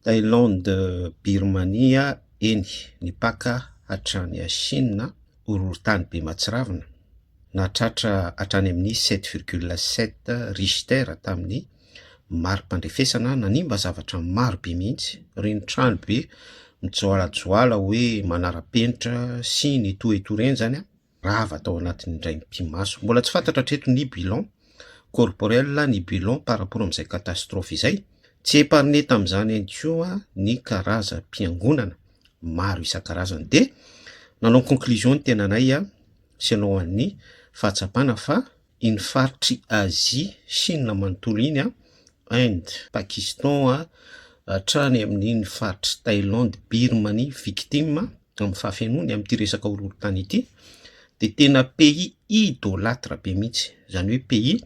Thaïlande, Birmania, eny, ny paka hatrany Chine, horohorontany be mahatsiravina, nahatratra hatrany amin'ny sept virgule sept Richter tamin'ny mari-pandrefesana, nanimba zavatra maro be mihitsy, ireny trano be mijoalajoala hoe manara-penitra sy nitohetorenjana, rava tao anatin'ny indray mipi-maso. Mbola tsy fantatra hatreto ny bilan corporel, ny bilan par rapport amin'izay catastrophe izay. Tsy épargné tamin'izany ihany koa ny karazam-piangonana maro isan-karazany. Dia nanao conclusion ny tenanay selon an'ny fahatsapana fa iny faritr'i Azia, Chine manontolo iny, Inde, Pakistan, hatrany amin'iny faritr'i Thaïlande, Birmanie, victime amin'ny fahafenoany amin'ity resaka horohorontany ity dia tena pays idolatre be mihitsy, izany hoe pays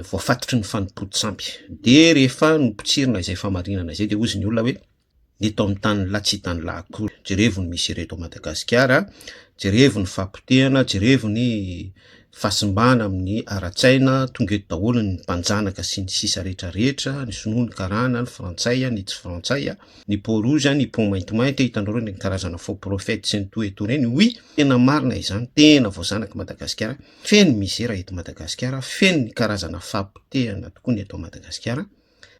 voafatotry ny fanompoan-tsampy. Dia rehefa nopotsirina izay fahamarinana izay dia hozy ny olona hoe. ny eto amin'ny tany lahy tsy tany lahy akory. Jerevo ny misy ereto Madagasikara, jerevo ny fahapotehana, jerevo ny fahasimbana amin'ny ara-tsaina, tonga eto daholo ny mpanjanaka sy ny sisa rehetra rehetra, ny sinoa, ny karana, ny frantsay, ny tsy frantsay, ny peau rouge, ny peau maintimainty, hitanao ireny karazana faux prophète sy ny toa etoa ireny, oui, tena marina izany, tena voazanak'i Madagasikara, feno misera eto Madagasikara, feno ny karazana fahapotehana tokoa ny eto Madagasikara,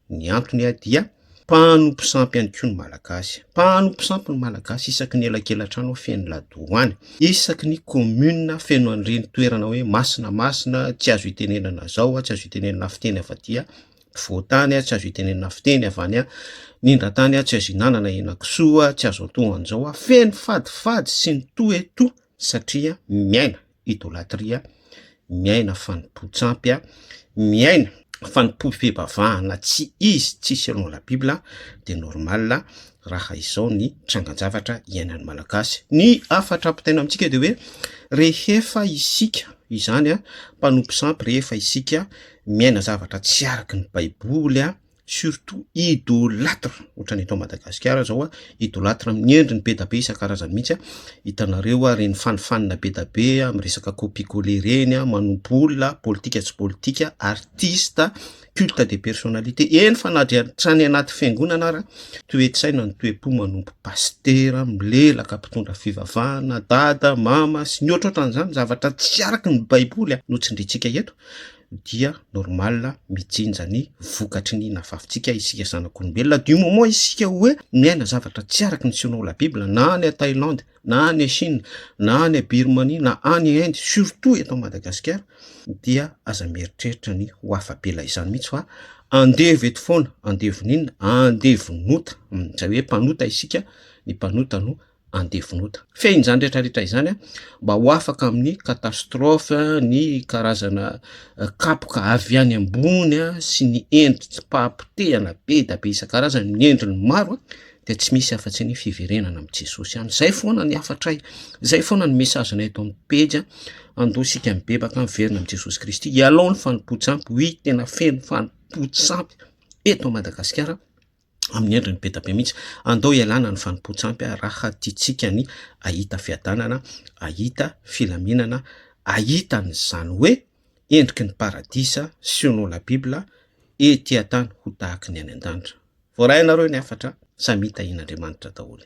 Ny antony ahy dia, mpanompo sampy ihany koa ny Malagasy. Mpanompo sampy ny Malagasy isaky ny elakelan-trano feno ladoany, isaky ny kaominina feno an'ireny toerana hoe masina masina tsy azo itenenana zao, tsy azo itenenana fiteny avy aty afovoan-tany, tsy azo itenenana fiteny avy any anindran-tany, tsy azo ihinanana henakisoa, tsy azo antohan'izao, feno fadifady sy ny toa e toa satria miaina. idolatria, miaina fanompoan-tsampy, miaina fanompoam-pivavahana tsy izy, tsy selon la bible, dia normal raha izao ny trangan-javatra iainan'ny Malagasy. Ny hafatra ampitaina amintsika dia hoe rehefa isika izany mpanompo sampy, rehefa isika miaina zavatra tsy araka ny baiboly, surtout idolatre ohatrany eto Madagasikara zao a idolatre amin'ny endriny be da be isan-karazany mihitsy a hitanareo a reny fanifanina be da be a amin'ny resaka copie colle reny a manompo olona politika tsy politika artiste culte de personnalité eny fa na dia hatrany anaty fiangonana ara toe-tsaina ny toe-po manompo pasitera milelaka mpitondra fivavahana dada mama sy ny ohatrohatran'izany zavatra tsy araka ny baiboly a no tsindrintsika eto dia normal mijinja ny vokatry ny nafafintsika isika zanak'olombelona du moment isika hoe miaina zavatra tsy araky ny selon la bible na any à Thaïlande na any à Chine na any à Birmanie na any à Inde surtout eto Madagasikara dia aza mieritreritra ny ho afa-bela izany mihitsy fa andevo eto foana andevon'inona andevon'ota izay hoe mpanota isika ny mpanota no andevinota. Fehiny izany rehetra rehetra izany mba ho afaka amin'ny catastrophe ny karazana kapoka avy any ambony sy ny endri-pahapotehana be dia be isan-karazany ny endriny maro dia tsy misy afa-tsy ny fiverenana amin'i Jesosy ihany. Izay foana ny hafatray, izay foana ny mesazinay eto amin'ny pejy, andoha isika mibebaka miverina amin'i Jesosy Kristy hialao ny fanompoan-tsampy, ho izy tena feno fanompoan-tsampy eto Madagasikara. amin'ny endriny be dia be mihitsy. Andao ialana ny fanompoan-tsampy raha tiantsika ny hahita fiadanana, hahita filaminana, hahita an'izany hoe endriky ny paradisa selon la bible ety an-tany ho tahaka ny any an-danitra. Voarainareo ny hafatra, samia tahian'Andriamanitra daholo.